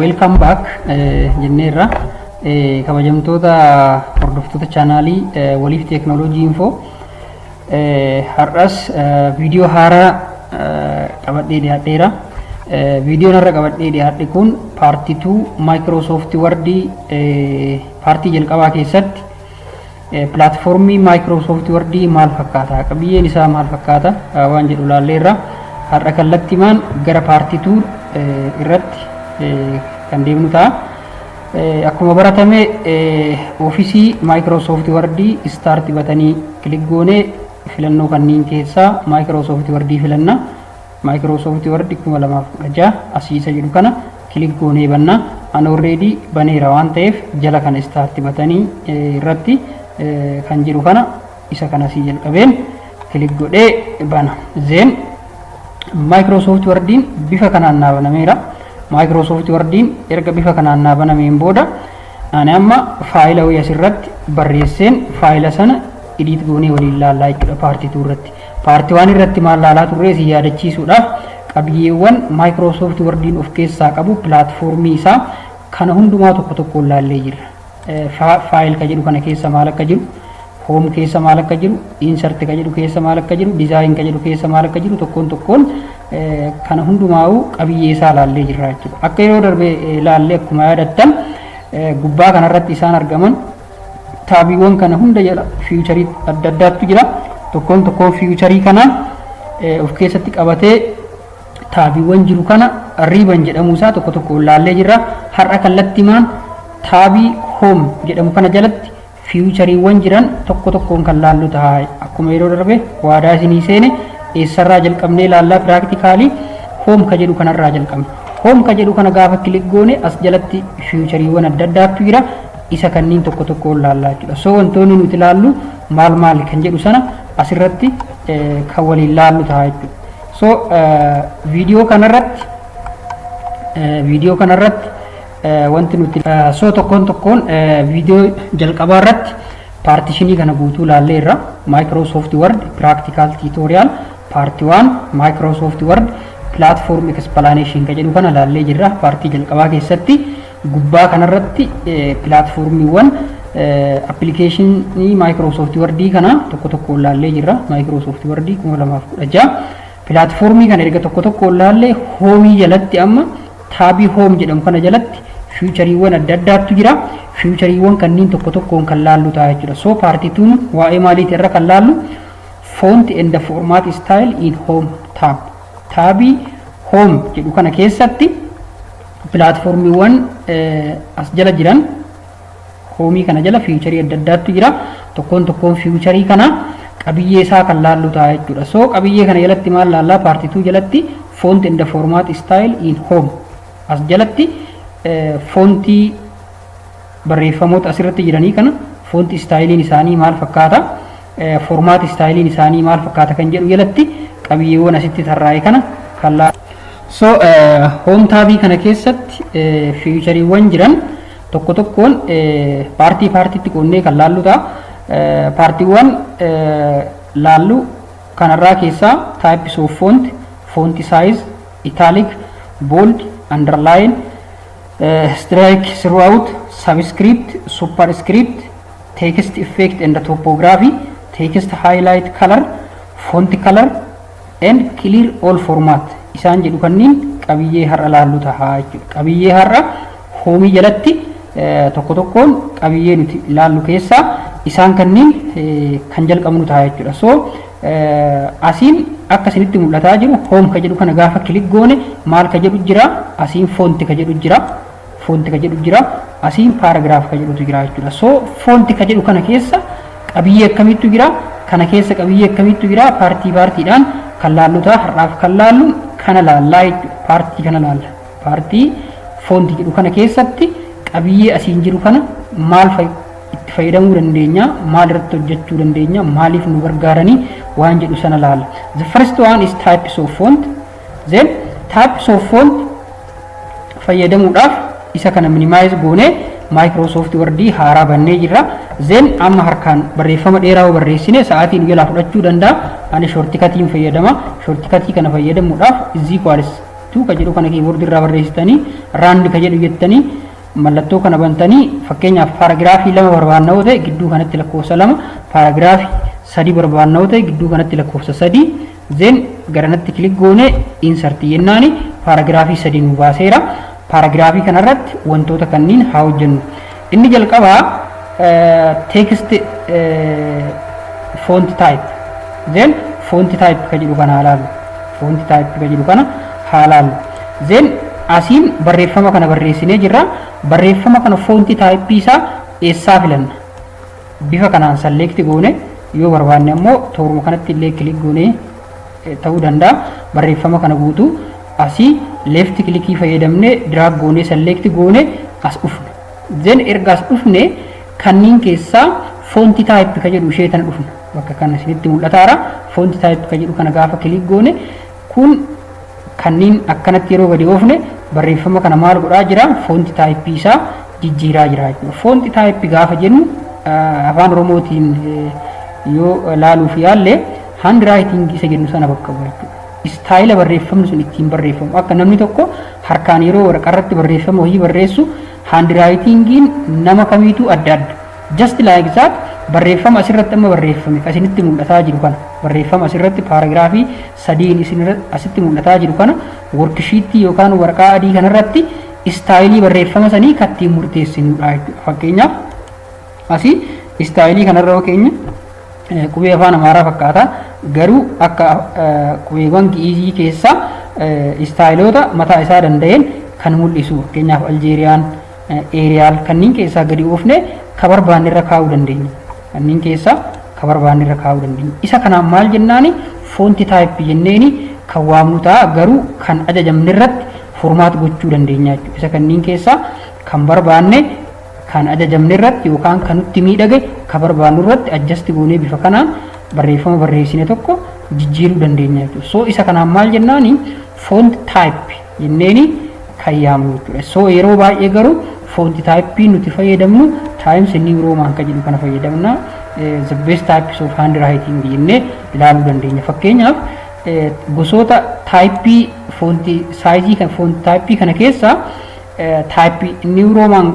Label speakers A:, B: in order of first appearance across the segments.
A: Welcome back jenneerra. Kabajamtoota hordoftoota chaanaalii waliif teeknooloojii infoo har'as viidiyoo haaraa qabadhee dhiyaadheera. Viidiyoon har'a qabadhee dhiyaadhe kun paartii 2 Microsoft Word paartii jalqabaa keessatti Pilaatfoormii Maayikiroosoofti Wardii maal fakkaata? Qabiyyeen isaa maal fakkaata? Waan jedhu laalleerra. Har'a kallattimaan gara paartii tuur irratti kan deemnu ta'a. Akkuma baratame oofisii Maayikiroosoofti Wardii istaarti batanii kilik goonee filannoo kanneen keessaa Maayikiroosoofti Wardii filanna. Microsoft Word 2016 asii isa jedhu kana kilik goonee banna. An already baneera waan ta'eef jala kana start batanii irratti kan jiru kana isa kana asii jalqabeen kilik godhee bana. Zeen Microsoft Wordiin bifa kanaan naa banameera. Microsoft Wordiin erga bifa kanaan naa banameen booda ani amma faayila wayii asirratti barreesseen faayila sana edit goonee waliin laallaa jechuudha paartii 2 irratti. Part 1 irratti maal laalaa turree isin yaadachiisuudhaaf qabiyyeewwan Microsoft Word'n of keessaa qabu pilaatfoormii isaa kana hundumaa tokko tokkoon laallee jirra. Faayil ka jedhu kana keessa maal akka jiru, hoom keessa maal akka jiru, insert ka jedhu keessa maal akka jiru, design ka jedhu keessa maal akka jiru tokkoon tokkoon kana hundumaa'uu qabiyyee isaa laallee jirra jechuudha. Akka yeroo darbe laallee akkuma yaadattan gubbaa kanarratti isaan argaman taabiiwwan kana hunda jala fiiwucharii adda addaatu jira. Tokkoon tokkoon fiiwucharii kana of keessatti qabatee taabiiwwan jiru kana riiban jedhamuu isaa tokko tokko laallee jirra. Har'a kallattimaan taabii hoom jedhamu kana jalatti fiiwuchariiwwan jiran tokko tokkoon kan laallu ta'a. Akkuma yeroo darbe waadaa isinii seene eessarraa jalqabnee laallaa piraaktikaalii hoom ka jedhu kanarraa jalqabna. Hoom ka jedhu kana gaafa kilik goone as jalatti fiiwuchariiwwan adda addaatu jira. isa kanniin tokko tokkoon laallaa jechuudha. So wantoonni nuti laallu maal maali kan jedhu sana asirratti kan waliin laallu ta'a jechuudha. So viidiyoo kanarratti viidiyoo kanarratti wanti nuti so tokkoon tokkoon viidiyoo jalqabaa irratti paartishinii kana guutuu laallee irra Microsoft Word Practical Tutorial Part 1 Microsoft Word Platform Explanation kan jedhu kana laallee jirra paartii jalqabaa keessatti. Gubbaa kanarratti pilaatfoormiiwwan appilikeeshinii Maayikiroosoofti Wardii kana tokko tokkoon laallee jirra. Maayikiroosoofti Wardii 2016. Pilaatfoormii kana erga tokko tokkoon laallee hoomii jalatti amma taabii hoom jedhamu kana jalatti fiichariiwwan adda addaatu jira. Fiichariiwwan kanniin tokko tokkoon kan laallu ta'a jechuudha. So paartituun waa'ee maaliiti irra kan laallu font and format style in home tab. Taabii hoom jedhu kana keessatti pilaatfoormiiwwan as jala jiran hoomii kana jala fiicharii adda addaatu jira. Tokkoon tokkoon fiicharii kana qabiyyee isaa kan laallu ta'a jechuudha. So qabiyyee kana jalatti maal laallaa paartituu jalatti font and format style in home as jalatti foontii barreeffamoota asirratti jiranii kana foontii istaayiliin isaanii maal fakkaata Foormaati istaayiliin isaanii maal fakkaata kan jedhu jalatti qabiyyeewwan asitti tarraa'e kana kan laa. So hoom taabii kana keessatti fiichariiwwan jiran tokko tokkoon paartii paartiitti qoonnee kan laallu ta'a. Paartiiwwan laallu kanarraa keessaa types of font, font size, italic, bold, underline, strike throughout, subscript, superscript, text effect and topography, text highlight color, font color and clear all format isaan jedhu kanniin qabiyyee har'a laallu tahaa jechuudha. Qabiyyee har'a hoomii jalatti tokko tokkoon qabiyyee nuti laallu keessaa isaan kanniin kan jalqabnu tahaa jechuudha. So asiin akka isinitti mul'ataa jiru hoom ka jedhu kana gaafa kilik goone maal ka jedhu jira asiin foonti ka jedhu jira Foonti ka jedhu jira. Asiin paaragiraaf ka jedhutu jira jechuudha. So foonti ka jedhu kana keessa qabiyyee akkamiitu jira? Kana keessa qabiyyee akkamiitu jira? Paartii paartiidhaan kan laallu ta'a. Har'aaf kan laallu kana laallaa jechuudha. Paartii kana laalla. Paartii foonti jedhu kana keessatti qabiyyee asiin jiru kana maal fa'i? itti fayyadamuu dandeenya maal irratti hojjechuu dandeenya maaliif nu gargaaranii waan jedhu sana laala the first one is types of font Then types of font fayyadamuudhaaf isa kana minimize goone Microsoft Word haaraa bannee jirra. Then amma harkaan barreeffama dheeraa yoo barreessine sa'aatii nu jalaa fudhachuu danda'a. Ani shortikatiin fayyadama. Shortikatii kana fayyadamuudhaaf is equals to ka jedhu kana keyboard irraa barreessitanii rand ka jedhu jettanii mallattoo kana bantanii fakkeenyaaf paaragiraafii lama barbaanna yoo ta'e gidduu kanatti lakkoofsa lama paaragiraafii sadii barbaanna yoo ta'e gidduu kanatti lakkoofsa sadii Then garanatti click goone insert jennaani paaragiraafii sadii nu baaseera. Paaragiraafii kanarratti wantoota kanniin haa hojjennu. Inni jalqabaa text font type then font type ka jedhu kana haa laallu. Font type ka jedhu kana haa laallu. Then asiin barreeffama kana barreessinee jirra. Barreeffama kana font type isaa eessaa filanna? Bifa kanaan select goone yoo barbaanne ammoo tooruma kanatti illee click goone ta'uu danda'a. Barreeffama kana guutuu asii left click fayyadamne drag goone select goone as dhufna. Then erga as dhufne kanniin keessaa font type ka jedhu ishee tana dhufna. Bakka kana isinitti mul'ataara. Font type ka jedhu kana gaafa click goone Kun kanniin akkanatti yeroo gadi oofne barreeffama kana maal godhaa jira foonti taayippii isaa jijjiiraa jira jechuudha. Foonti taayippi gaafa jennu afaan oromootiin yoo laaluuf yaalle hand raayitingii isa jennu sana bakka bu'a jechuudha. Istaayila barreeffamni sun ittiin barreeffamu akka namni tokko harkaan yeroo waraqaa irratti barreeffama wayii barreessu hand raayitingiin nama kamiituu adda adda. Just like that barreeffama asirratti amma barreeffame kan isinitti mul'ataa jiru kana barreeffama asirratti paaragiraafii sadiin isin asitti mul'ataa jiru kana workishiittii yookaan waraqaa adii kanarratti istaayilii barreeffama sanii kan ittiin murteessinudha jechuudha. Fakkeenyaaf asii istaayilii kanarra yoo keenya qubee afaan amaaraa fakkaata garuu akka qubeewwan gi'izii keessaa istaayiloota mataa isaa danda'een kan mul'isu fakkeenyaaf aljeeriyaan Eeriyaal kanneen keessaa gadi oofne ka barbaanne irra kaa'uu dandeenya. Kanneen keessaa ka barbaanne irra kaa'uu dandeenya. Isa kanaan maal jennaani foonti taayippi jenneeni kan waamnu ta'a garuu kan ajajamne irratti formaat gochuu dandeenya jechuudha. Isa kanneen keessaa kan barbaanne kan ajajamne irratti yookaan kan nutti miidhage ka barbaannu irratti adjasti goonee bifa kanaan barreeffama barreessine tokko jijjiiruu dandeenya jechuudha. So isa kanaan maal jennaani foonti taayippi jenneeni kan yaamnu jechuudha. So yeroo baay'ee garuu foonti taayippii nuti fayyadamnu Times New Roman kan jedhu kana fayyadamna. The best types of handwriting jennee ilaaluu dandeenya. Fakkeenyaaf gosoota taayippii foonti saayizii kan foonti taayippii kana keessaa taayippii New Roman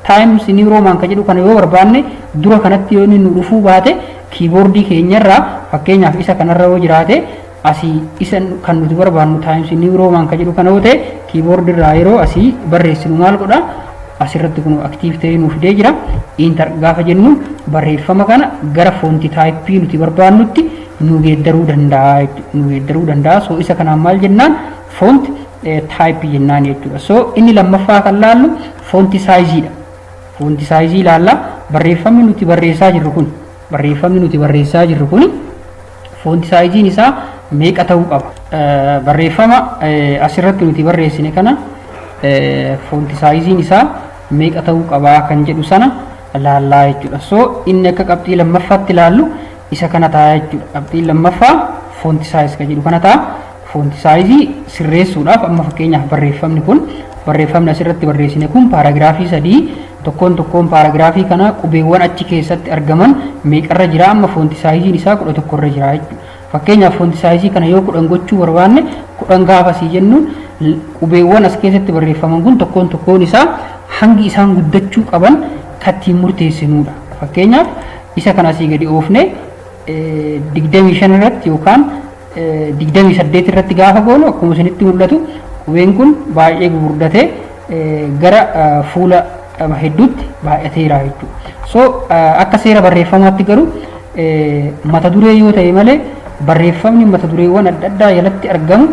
A: Times New Roman kan jedhu kana yoo barbaanne dura kanatti yoo inni nu dhufuu baate kiiboordii keenyarraa fakkeenyaaf isa kanarra yoo jiraate asii isa kan nuti barbaannu times new roman kan jedhu kana yoo ta'e keyboard irraa yeroo asii barreessinu maal godha asirratti kun active ta'ee nuuf fidee jira enter gaafa jennu barreeffama kana gara foonti taayippii nuti barbaannutti nu geeddaruu danda'a jechuudha nu geeddaruu danda'a so isa kanaan maal jennaan foonti taayippii jennaan jechuudha so inni lammaffaa kan laallu foonti saayiziidha foonti saayizii ilaalla barreeffamni nuti barreessaa jirru kun barreeffamni nuti barreessaa jirru kun Foonti saayiziin isaa meeqa ta'uu qaba? Barreeffama asirratti nuti barreessine kana foonti saayiziin isaa meeqa ta'uu qaba kan jedhu sana laallaa jechuudha. So inni akka qabxii lammaffaatti laallu isa kana ta'a jechuudha. Qabxiin lammaffaa foonti saayiz kan jedhu kana ta'a. Foonti saayizii sirreessuudhaaf amma fakkeenyaaf barreeffamni kun barreeffamni asirratti barreessine kun paaragiraafii sadii tokkoon tokkoon paaragiraafii kanaa qubeewwan achi keessatti argaman meeqarra jira amma foonti saayiziin isaa kudha tokkorra jira jechuudha. Fakkeenyaaf foonti saayizii kana yoo kudhan gochuu barbaanne kudhan gaafa sii jennu qubeewwan as keessatti barreeffaman kun tokkoon tokkoon isaa hangi isaan guddachuu qaban kattiin murteessinudha. Fakkeenyaaf isa kana asii gadi oofne digdamii shan irratti yookaan 28 irratti gaafa goonu akkuma isinitti mul'atu qubeen kun baay'ee gugurdatee gara fuula qaba hedduutti baay'ateera jechuudha. So akka seera barreeffamaatti garuu mata duree yoo ta'e malee barreeffamni mata dureewwan adda addaa jalatti argamu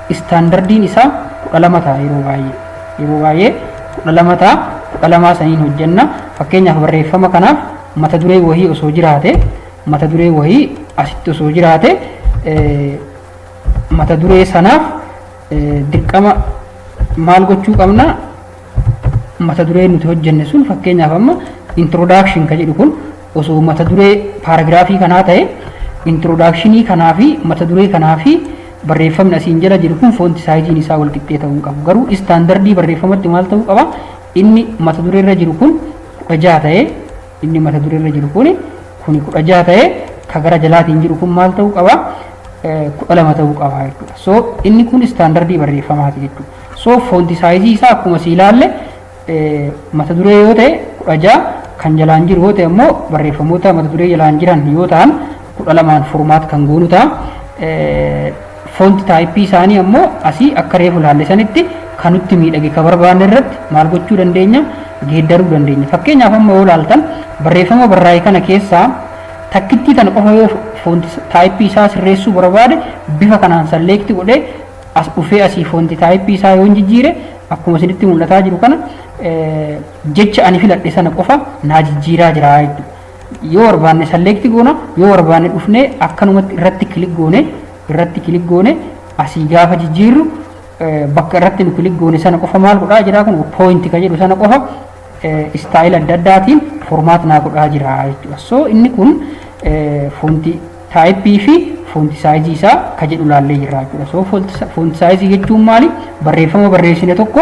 A: istaandardiin isaa kudha lama ta'a yeroo baay'ee. Yeroo baay'ee kudha lama ta'a kudha lamaa saniin hojjenna fakkeenyaaf barreeffama kanaaf mata duree wahii osoo jiraate mata duree wayii asitti osoo jiraate mata duree sanaaf dirqama maal gochuu qabna mata duree nuti hojjenne sun fakkeenyaaf amma introduction ka jedhu kun osoo mata duree paaragiraafii kanaa ta'e introductionii kanaa fi mata duree kanaa fi barreeffamni asiin jala jiru kun foonti saayiziin isaa wal qixxee ta'uu qabu garuu istaandardii barreeffamatti maal ta'uu qaba inni mata duree irra jiru kun kudha jaha ta'ee Inni mata duree irra jiru kuni kuni kudha jaha ta'ee ka gara jalaatiin jiru kun maal ta'uu qaba? kudha lama ta'uu qaba jechuudha. So inni kun istaandardii barreeffamaati jechuudha. So foonti saayizii isaa akkuma si ilaalle mata duree yoo ta'e kudha jaha kan jalaan jiru yoo ta'e immoo barreeffamoota mata duree jalaan jiran yoo ta'an kudha lamaan furmaat kan goonu ta'a. Font type isaanii ammoo asii akka reefu ilaalle sanitti kan nutti miidhage ka barbaanne irratti maal gochuu dandeenya geeddaruu dandeenya. Fakkeenyaaf amma yoo ilaaltan barreeffama barraa'e kana keessaa takkittii tana qofa yoo font type isaa sirreessuu barbaade bifa kanaan select godhee as dhufee asii font type isaa yoo jijjiire akkuma isinitti mul'ataa jiru kana jecha ani filadhe sana qofa naa jijjiiraa jira jechuudha. yoo barbaanne select goona yoo barbaanne dhufnee akkanumatti irratti kilik goone irratti kilik goone asii gaafa jijjiirru bakka irratti nu kilik goone sana qofa maal godhaa jira kun point ka jedhu sana qofa istaayil adda addaatiin formaat naa godhaa jira jechuudha so inni kun foonti taayippii fi foonti saayizii isaa ka jedhu laallee jirra jechuudha so foonti saayizii jechuun maali barreeffama barreessine tokko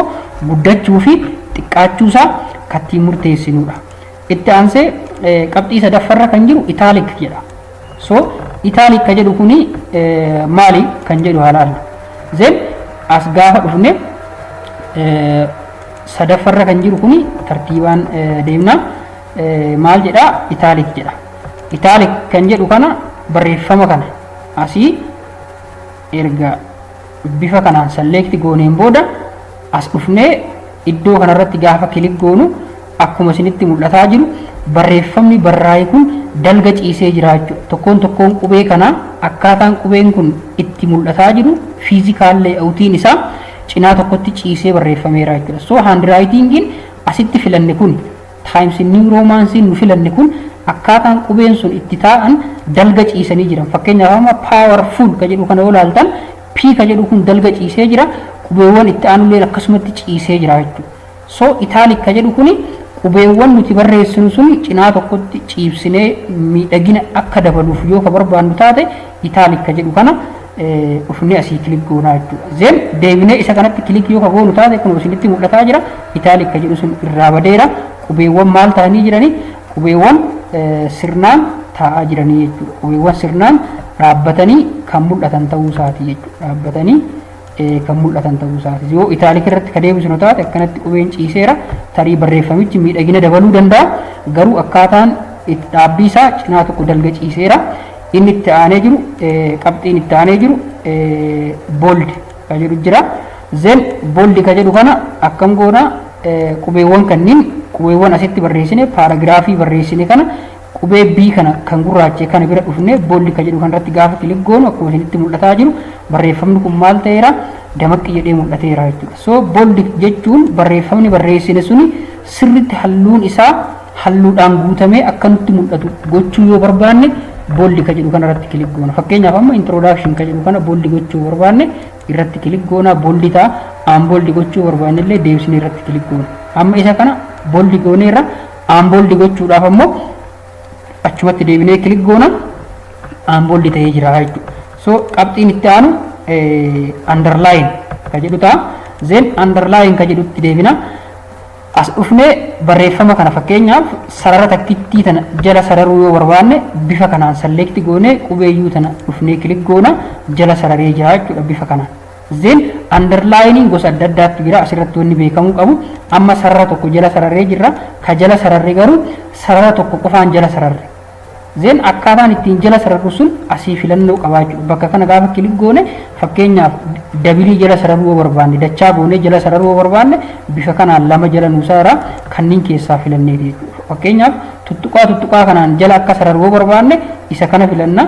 A: guddachuu fi xiqqaachuu isaa kattiin murteessinudha Itti aansee qabxii sadaffarra kan jiru italic jedha. So italic ka jedhu kuni maali kan jedhu haa laallu. Zen as gaafa dhufne sadaffarra kan jiru kuni tartiibaan deemna. Maal jedha italic jedha. Italic kan jedhu kana barreeffama kana asii erga bifa kanaan select gooneen booda as dhufnee iddoo kanarratti gaafa kilik goonu Akkuma isinitti mul'ataa jiru barreeffamni barraa'e kun dalga ciisee jira jechuudha. Tokkoon tokkoon qubee kanaa akkaataan qubeen kun itti mul'ataa jiru fiizikaal leeyawutiin isaa cinaa tokkotti ciisee barreeffameera jechuudha. So haandiraayitingiin asitti filanne kun taayims niiw roomaansiin nu filanne kun akkaataan qubeen sun itti taa'an dalga ciisanii jiran. Fakkeenyaaf amma paawarfuul ka jedhu kana yoo ilaaltan P ka jedhu kun dalga ciisee jira qubeewwan itti aanulleen akkasumatti ciisee jira jechuudha. So italic ka jedhu kuni qubeewwan nuti barreessinu sun cinaa tokkotti ciibsinee miidhagina akka dabaluuf yoo ka barbaannu taate italic ka jedhu kana dhufnee asii kilik goonaa jechuudha. Zeen deebinee isa kanatti kilik yoo ka goonu taate kun isinitti mul'ataa jira. Italic ka jedhu sun irraa badeera. Qubeewwan maal ta'anii jiranii? Qubeewwan sirnaan taa'aa jiranii jechuudha. Qubeewwan sirnaan dhaabbatanii kan mul'atan ta'uu isaati jechuudha. Dhaabbatanii kan mul'atan ta'uu isaati. Yoo itaalik irratti ka deebisnu taate akkanatti qubeen ciiseera tarii barreeffamichi miidhagina dabaluu danda'a garuu akkaataan itti dhaabbii isaa cinaa tokko dalga ciiseera. Inni itti aanee jiru qabxiin itti aanee jiru bold ka jedhu jira. Zen bold ka jedhu kana akkam goona qubeewwan kanniin qubeewwan asitti barreessine paaragiraafii barreessine kana Qubee B kana kan gurraachee kana bira dhufne bold ka jedhu kanarratti gaafa kilik goonu akkuma isinitti mul'ataa jiru barreeffamni kun maal ta'eera damaqqi jedhee mul'ateera jechuudha. So bold jechuun barreeffamni barreessine suni sirritti halluun isaa halluudhaan guutamee akka nutti mul'atu gochuu yoo barbaanne bold ka jedhu kanarratti kilik goona. Fakkeenyaaf amma introduction ka jedhu kana bold gochuu barbaanne irratti kilik goona bold ta'a. Aan bold gochuu barbaanne illee deebisnee irratti kilik goona. Amma isa kana bold gooneerra Aanbooldi gochuudhaaf ammoo achumatti deebinee kilik goona aanbooldi ta'ee jira jechuudha. So qabxiin itti aanu underline ka jedhu ta'a. Zeen underline ka jedhutti deebina. As dhufnee barreeffama kana fakkeenyaaf sarara takkittii tana jala sararuu yoo barbaanne bifa kanaan select goonee qubeeyyuu tana dhufnee kilik goona jala sararee jira jechuudha bifa kanaan. Then underlining gosa adda addaatti jira asirratti wanni beekamuu qabu amma sarara tokko jala sararree jirra ka jala sararre garuu sarara tokko qofaan jala sararre. Then akkaataan ittiin jala sararru sun asii filannoo qabaachuu bakka kana gaafa kilik goone fakkeenyaaf dabilii jala sararuu yoo barbaanne dachaa goone jala sararuu yoo barbaanne bifa kanaan lama jala nuu sarara kanneen keessaa filannee jechuudha. Fakkeenyaaf tuttuqaa tuttuqaa kanaan jala akka sararuu yoo barbaanne isa kana filanna.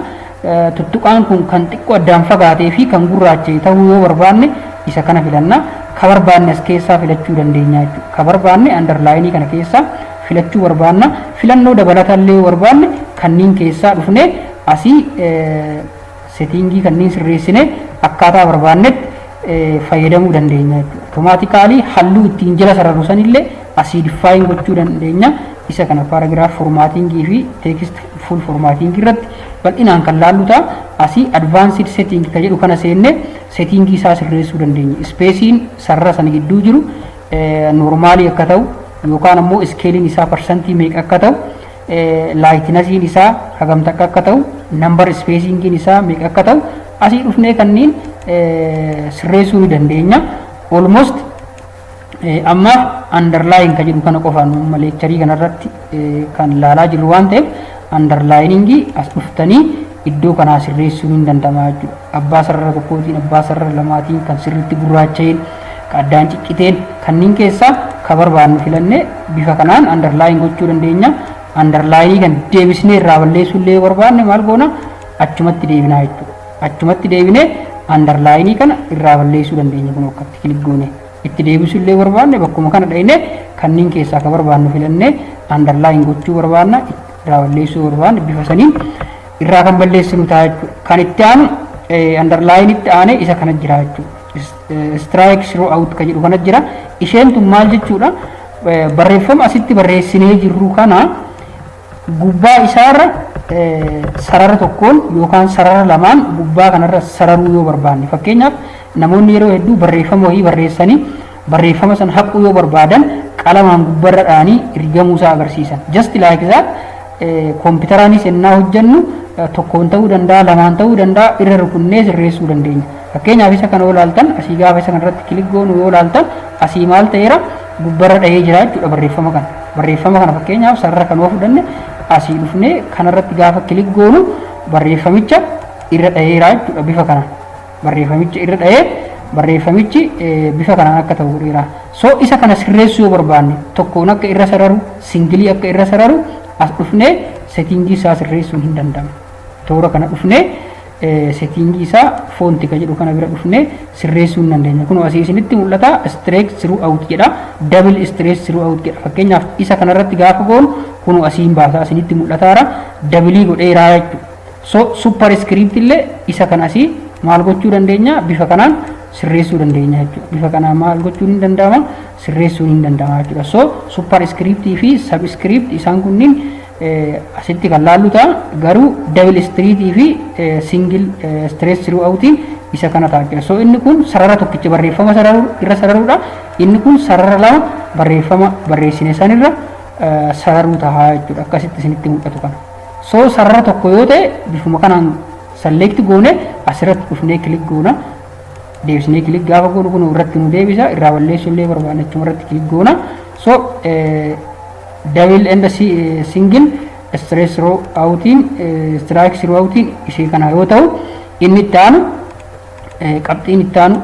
A: Tuttuqaan kun kan xiqqoo addaan fagaatee fi kan gurraacha'e ta'uu yoo barbaanne isa kana filanna. Ka barbaanne as keessaa filachuu dandeenya jechuudha. Ka barbaanne andarlaayinii kana keessaa filachuu barbaanna. Filannoo dabalatallee yoo barbaanne kanniin keessaa dhufnee asii setiingii kanniin sirreessine akkaataa barbaannetti fayyadamuu dandeenya jechuudha. Otomaatikaalii halluu ittiin jala sararru sanillee asii diffaayin gochuu dandeenya. Isa kana paaragiraaf formaatiingii fi teekist fuul formaatiingii irratti bal'inaan kan laallu ta'a. Asii advanced setting ka jedhu kana seenne settingii isaa sirreessuu dandeenya. Ispeesiin sarara sana gidduu jiru noormaalii akka ta'u yookaan ammoo iskeeliin isaa parsantii meeqa akka ta'u laayitinasiin isaa hagam takka akka ta'u nambar ispeesingiin isaa meeqa akka ta'u asii dhufnee kanniin sirreessuu ni dandeenya. Almost Ammaaf underline kan jedhu kana qofaan amma leekcharii kanarratti kan ilaalaa jirru waan ta'eef underlining as dhuftanii iddoo kanaa sirreessuun hin danda'ama jechuudha. Abbaa sarara tokkootiin abbaa sarara lamaatiin kan sirriitti gurraacha'een kan addaan cicciteen kanneen keessaa kan barbaannu filannee bifa kanaan underline gochuu dandeenya. Underline kan deebisnee irraa balleessuu illee barbaanne maal goona achumatti deebinaa jechuudha. Achumatti deebinee andarlaayinii kana irraa balleessuu dandeenya kun akkatti kilik goone itti deebisuu illee barbaanne bakkuma kana dhayne kanneen keessaa akka barbaannu filannee andarlaayin gochuu barbaanna irraa balleessuu barbaanne bifa saniin irraa kan balleessinu ta'a jechuudha. Kan itti aanu andarlaayinitti aanee isa kana jira jechuudha. Strike through out kan jedhu kana jira. Isheen tun maal jechuudha? Barreeffama asitti barreessinee jirru kana Gubbaa isaarra sarara tokkoon yookaan sarara lamaan gubbaa kanarra sararuu yoo barbaanne fakkeenyaaf namoonni yeroo hedduu barreeffama wayii barreessanii barreeffama san haquu yoo barbaadan qalamaan gubbarra dha'anii rigamuu isaa agarsiisan. Just like that kompiitaraanis ennaa hojjennu tokkoon ta'uu danda'a lamaan ta'uu danda'a irra rukunnee sirreessuu dandeenya. Fakkeenyaaf isa kana yoo ilaaltan asii gaafa isa kanarratti kilik goonu yoo ilaaltan asii maal ta'eera gubbarra dhahee jira jechuudha barreeffama kana. Barreeffama kana fakkeenyaaf sarara kan oofuu danne asii dhufnee kanarratti gaafa kilik goonu barreeffamicha irra dhaheera jechuudha bifa kana. Barreeffamicha irra dhahee barreeffamichi bifa kanaan akka ta'u godheera. So isa kana sirreessuu yoo barbaanne tokkoon akka irra sararu singilii akka irra sararu as dhufnee seetingii isaa sirreessuun hin danda'amu. Toora kana dhufnee Setting isaa foonti ka jedhu kana bira dhufnee sirreessuu hin dandeenya. Kun asii isinitti mul'ata straight through out jedha. Double straight through out jedha. Fakkeenyaaf isa kanarratti gaafa goonu kun asiin baasaa isinitti mul'ataara. Dabilii godhee iraa jechuudha. So super script illee isa kan asii maal gochuu dandeenya bifa kanaan sirreessuu dandeenya jechuudha. Bifa kanaan maal gochuun hin danda'ama sirreessuun hin danda'ama jechuudha. So super script fi sub script isaan kunniin asitti kan laallu ta'a garuu dabil istiriitii fi singil istirees siruu awutiin isa kana ta'a jechuudha. So inni kun sarara tokkicha barreeffama sararuu irra sararuudha. Inni kun sarara lama barreeffama barreessine sanirra sararuu ta'a jechuudha. Akkasitti isinitti mul'atu kana. So sarara tokko yoo ta'e bifuma kanaan salleekti goone asirratti dhufnee kilik goona. Deebisnee kilik gaafa goonu kun irratti nu deebisa. Irraa balleessuu illee barbaanne achuma irratti kilik goona. So Double and single stress throw outiin strike throw outiin ishee kana yoo ta'u inni itti aanu qabxiin itti aanu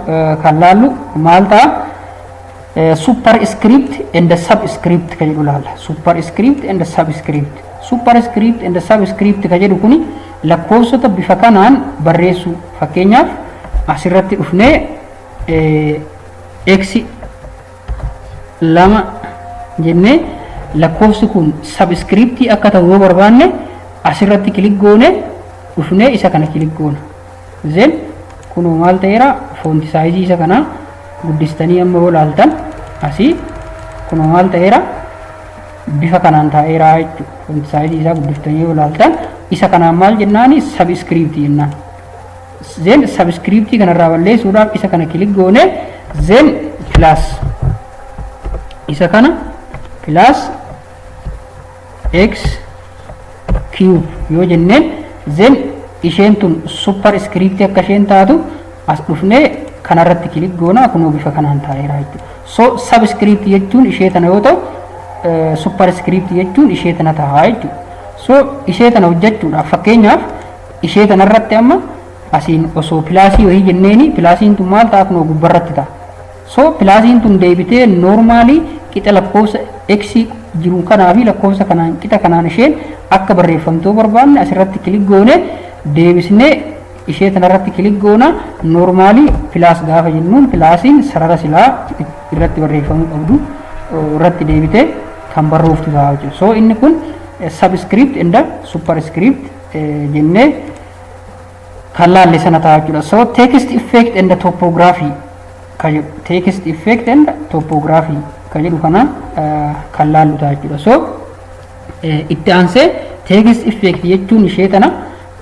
A: kan laallu maal ta'a? Super script and subscript kan jedhu laalla. Super script and subscript. Super script and subscript kan jedhu kuni lakkoofsota bifa kanaan barreessuu fakkeenyaaf asirratti dhufnee x lama jennee lakkoofsi kun sabskiriiptii akka ta'u yoo barbaanne asirratti kilik goone dhufnee isa kana kilik goona. Zen kunoo maal ta'eera foonti saayizii isa kanaa guddistanii amma yoo laaltan asii kunoo maal ta'eera bifa kanaan taa'eera jechuudha. Foonti saayizii isaa guddiftanii yoo laaltan isa kanaan maal jennaani sabskiriiptii jennaan. Zen subscript kanarraa balleessuudhaaf isa kana kilik goone zen plus isa kana plus x cube yoo jenneen zen isheen tun super script akka isheen taatu as dhufnee kanarratti kilik goona kunoo bifa kanaan taa'eera jechuudha. So subscript jechuun ishee tana yoo ta'u super script jechuun ishee tana ta'a jechuudha. So ishee tana hojjechuudhaaf fakkeenyaaf Ishee tanarratti amma asiin osoo pilaasii wayii jenneeni pilaasiin tun maal ta'a kunoo gubbarratti ta'a. So pilaasiin tun deebitee noormaalii qixa lakkoofsa x jiru kanaa fi lakkoofsa kanaan qixa kanaan isheen akka barreeffamtuu barbaanne asirratti kilik goone deebisnee ishee tanarratti kilik goona noormaalii pilaas gaafa jennuun pilaasiin sarara silaa irratti barreeffamuu qabdu irratti deebitee kan barrooftu ta'a jechuudha. So inni kun subscript and superscript jennee kan laalle sana ta'a jechuudha. So text effect and topography ka jedhu text effect and topography ka jedhu kana kan laallu ta'a jechuudha. So itti aansee text effect jechuun ishee tana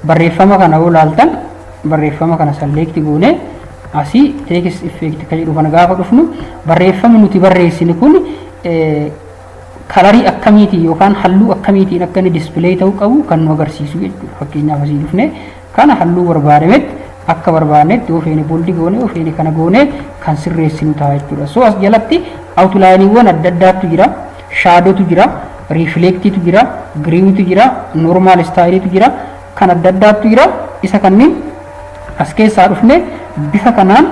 A: barreeffama kana yoo laaltan barreeffama kana select goone asii text effect ka jedhu kana gaafa dhufnu barreeffamni nuti barreessine kun kalarii akkamiitiin yookaan halluu akkamiitiin akka inni display ta'uu qabu kan nu agarsiisu jechuudha. Fakkeenyaaf asii dhufnee kana halluu barbaadametti akka barbaadnetti yoo feene booldi goone yoo feene kana goone kan sirreessinu ta'a jechuudha. So as jalatti awutulaayiniiwwan adda addaatu jira. Shaadotu jira, riifleektiitu jira, giriiwitu jira, noormaal istaayiliitu jira, kan adda addaatu jira. Isa kanneen as keessaa dhufne bifa kanaan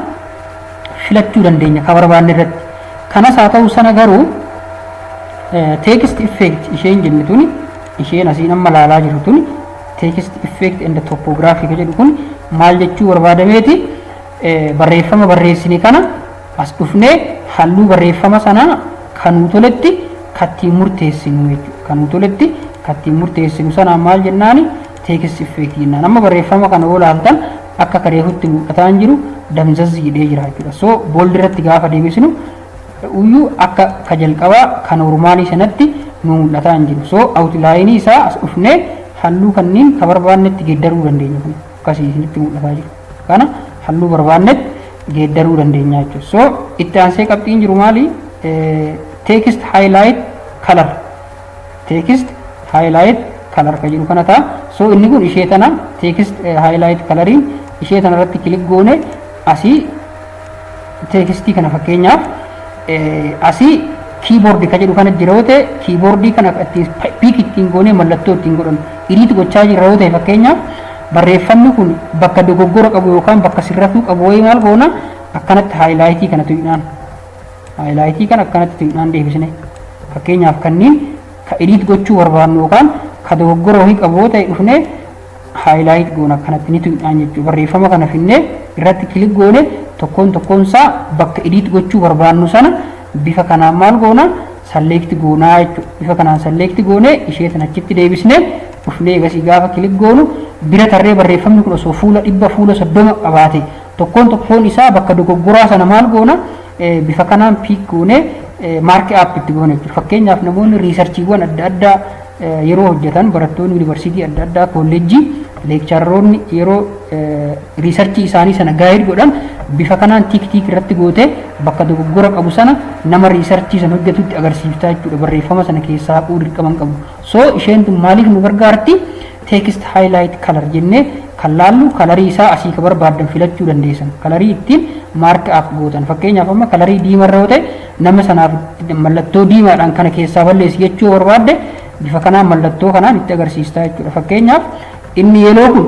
A: filachuu dandeenya ka barbaanne irratti kanas haa ta'u sana garuu text effect isheen jennu tuni isheen asiin amma laalaa jirru tuni text effect and topography ka jedhu kun maal jechuu barbaadameeti barreeffama barreessine kana as dhufnee halluu barreeffama sanaa kan nu toletti kattiin murteessinu jechuudha kan nu toletti kattiin murteessinu sanaan maal jennaani text effect jennaan amma barreeffama kana yoo ilaaltan akka kareefutti mul'ataa hin jiru damzazzi jedhee jira jechuudha so bold irratti gaafa deebisnu uyyuu akka ka jalqabaa ka noormaalii sanatti nu mul'ataa hin jiru so awutlaayinii isaa as dhufnee halluu kanniin ka barbaannetti geeddaruu dandeenya kun akkasii isinitti mul'ataa jiru kana halluu barbaannetti geeddaruu dandeenya jechuudha so itti aansee qabxiin jiru maali text highlight color text highlight color kan jedhu kana ta'a. So inni kun ishee tana text highlight coloriin ishee tana irratti kilik goone asii teekstii kana fakkeenyaaf asii kiiboordii kan jedhu kana jira yoo ta'e kiiboordii kana ittiin piik ittiin goonee mallattoo ittiin godhan iriit gochaa jirra yoo ta'e fakkeenyaaf barreeffamni kun bakka dogoggora qabu yookaan bakka sirratuu qabu wayii maal goona akkanatti haayilaayitii kana tuqnaan Haayilaayitii kan akkanatti xinnaan deebisne fakkeenyaaf kanniin ka edit gochuu barbaannu yookaan ka dogoggora wahii qabu yoo ta'e dhufnee haayilaayit goona akkanatti ni tuqnaan jechuudha. Barreeffama kana finnee irratti kilik goone tokkoon tokkoon isaa bakka edit gochuu barbaannu sana bifa kanaan maal goona salleekti goonaa jechuudha. Bifa kanaan salleekti goonee ishee tan achitti deebisnee dhufnee egasii gaafa kilik goonu bira tarree barreeffamni kun osoo fuula dhibba fuula soddoma qabaate Tokkoon tokkoon isaa bakka dogoggoraa sana maal goona bifa kanaan piik goonee maarki aap itti goona jechuudha. Fakkeenyaaf namoonni riisarchiiwwan adda addaa yeroo hojjetan barattoonni yuunivarsiitii adda addaa koolleejjii leekcharoonni yeroo riisarchii isaanii sana gaayid godhan bifa kanaan tiik tiik irratti gootee bakka dogoggora qabu sana nama riisarchii sana hojjetutti agarsiiftaa jechuudha barreeffama sana keessaa haquu dirqama hin qabu. So isheen tun maaliif nu gargaarti? text highlight color jennee kan laallu kalarii isaa asii ka barbaaddan filachuu dandeessan kalarii ittiin mark up gootan fakkeenyaaf amma kalarii diimaa irra yoo ta'e nama sanaaf mallattoo diimaadhaan kana keessaa balleessi jechuu barbaadde bifa kanaan mallattoo kanaan itti agarsiistaa jechuudha fakkeenyaaf inni yeloo kun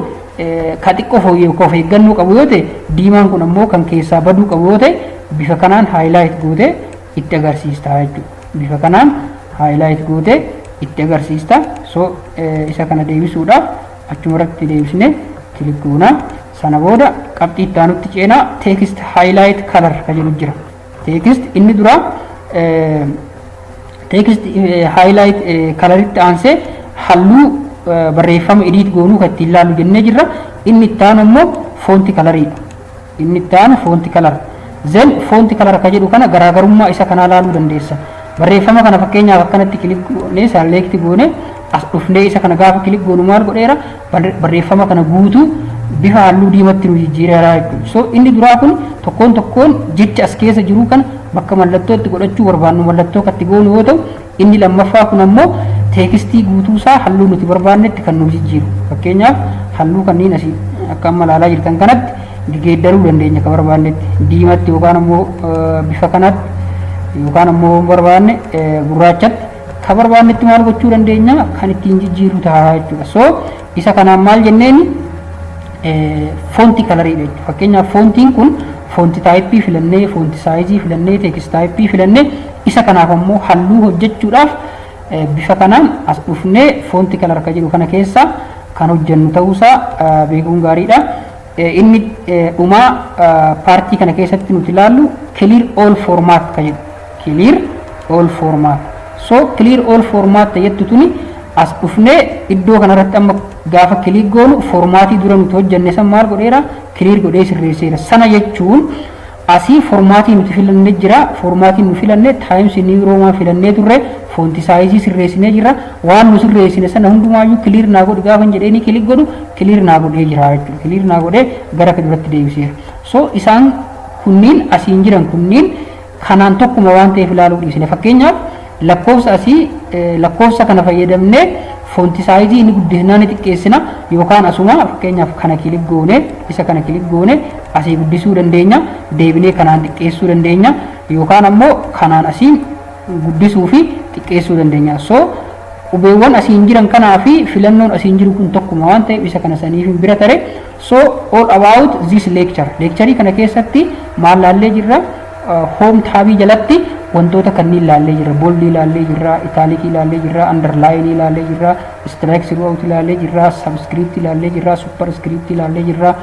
A: ka xiqqoo fooyyee of eeggannoo qabu yoo ta'e diimaan kun ammoo kan keessaa baduu qabu yoo ta'e bifa kanaan highlight gootee itti agarsiista jechuudha. Bifa kanaan highlight gootee itti agarsiista. So isa kana deebisuudhaaf achuma irratti deebisnee kilik goona. Sana booda qabxii itti aanutti ceenaa text highlight color kan jedhu jira. Text inni dura text highlight coloritti aansee halluu barreeffama edit goonuu kan ittiin ilaallu jennee jirra. Inni itti aanu immoo foonti kalariidha. Inni itti aanu foonti kalara. Zen foonti kalara ka jedhu kana garaagarummaa isa kanaa laaluu dandeessa. Barreeffama kana fakkeenyaaf akkanatti kilik goonee saalleekti goonee as dhufnee isa kana gaafa kilik goonu maal godheera barreeffama kana guutuu bifa halluu diimatti nu jijjiireera jechuudha. So inni duraa kun tokkoon tokkoon jecha as keessa jiru kana bakka mallattootti godhachuu barbaannu mallattoo katti goonu yoo ta'u Inni lammaffaa kun ammoo teekistii guutuusaa halluu nuti barbaannetti kan nuuf jijjiiru. Fakkeenyaaf halluu kanneen asii akka amma ilaalaa jirtan kanatti geeddaruu dandeenya akka barbaannetti. Diimatti yookaan ammoo bifa kanatti yookaan ammoo barbaanne gurraachatti kan barbaannetti maal gochuu dandeenya kan ittiin jijjiirru ta'a jechuudha. So isa kanaan maal jenneeni foontii kalariidha jechuudha. Fakkeenyaaf foontiin kun foonti taayippii filannee, foonti saayizii filannee, teekist taayippii filannee Isa kanaaf ammoo halluu hojjechuudhaaf bifa kanaan as dhufnee foonti kalar kan jedhu kana keessaa kan hojjennu ta'uusaa beekuun gaariidha. Inni dhumaa paartii kana keessatti nuti ilaallu clear all format kan jedhu clear all format so clear all format ta jettu tuni as dhufnee iddoo kanarratti amma gaafa kiliik goonu formaatii dura nuti hojjenne san maal godheera clear godhee sirreesseera sana jechuun Asii formaatii nuti filanne jira. Formaatiin nu filanne Times New Roman filannee turre. Foonti saayizii sirreessinee jirra. Waan nu sirreessine sana hundumaayyuu clear naa godhi gaafan jedheenii kilik godhu clear naa godhee jira jechuudha. Clear naa godhee gara duratti deebiseera. So isaan kunniin asiin jiran kunniin kanaan tokkuma waan ta'eef ilaaluu dhiisne. Fakkeenyaaf Lakkoofsa asii lakkoofsa kana fayyadamnee foonti saayizii inni guddisnaa ni xiqqeessina yookaan asuma fakkeenyaaf kana kilik goone isa kana kilik goone asii guddisuu dandeenya deebinee kanaan xiqqeessuu dandeenya yookaan ammoo kanaan asiin guddisuu fi xiqqeessuu dandeenya so qubeewwan asiin jiran kanaa fi filannoon asiin jiru kun tokkuma waan ta'eef isa kana saniif bira tare So all about this lecture. Leekcharii kana keessatti maal laallee jirra? Home taabii jalatti wantoota kanniin laallee jirra. Boldii laallee jirra, itaalikii laallee jirra, underlaayinii laallee jirra, strike throughout laallee jirra, subscript laallee jirra, superscript laallee jirra,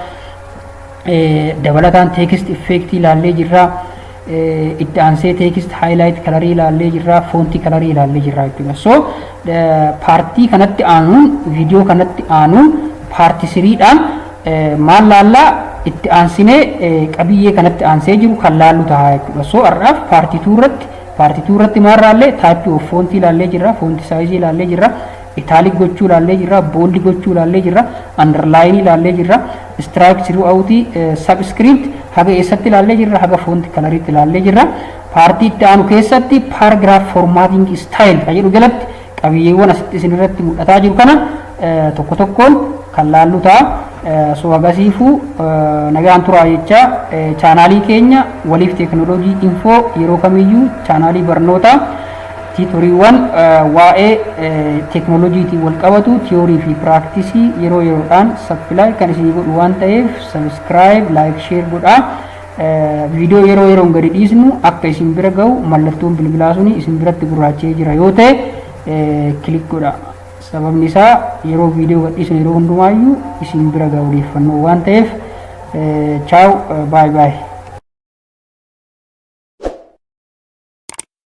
A: dabalataan text effect laallee jirra. itti aansee teekist haayilaayit kalarii ilaallee jirra foontii kalarii ilaallee jirra jechuudha so paartii kanatti aanuun viidiyoo kanatti aanuun paarti siriidhaan maal laallaa itti aansinee qabiyyee kanatti aansee jiru kan laallu ta'a jechuudha so har'aaf paartii tuu irratti paartii tuu irratti maal laallee taayippii of foontii ilaallee jirra foontii saayizii ilaallee jirra itaalik gochuu ilaallee jirra booldi gochuu ilaallee jirra andarlaayinii ilaallee jirra Strike throughout subscript haga eessatti ilaallee jirra haga font kalariitti ilaallee jirra. Paartii itti aanu keessatti paragraph formatting style kan jedhu jalatti qabiyyeewwan asitti isin irratti mul'ataa jiru kana tokko tokkoon kan laallu ta'a. So hagasiifuu nagaan turaa jechaa chaanaalii keenya waliif teeknooloojii infoo yeroo kamiyyuu chaanaalii barnootaa Tiitoriiwwan waa'ee teeknooloojiitiin wal qabatu tiyoorii fi piraaktisii yeroo yeroodhaan sappilaay kan isinii godhu waan ta'eef sabiskiraayib laayik sheer godhaa. Viidiyoo yeroo yeroon gadi dhiisnu akka isin bira ga'u mallattoon bilbilaa suni isin biratti gurraacha'ee jira yoo ta'e kilik godha. Sababni isaa yeroo viidiyoo gad dhiisnu yeroo hundumaayyuu isin bira ga'a odeeffannoo waan ta'eef chaaw baay baay.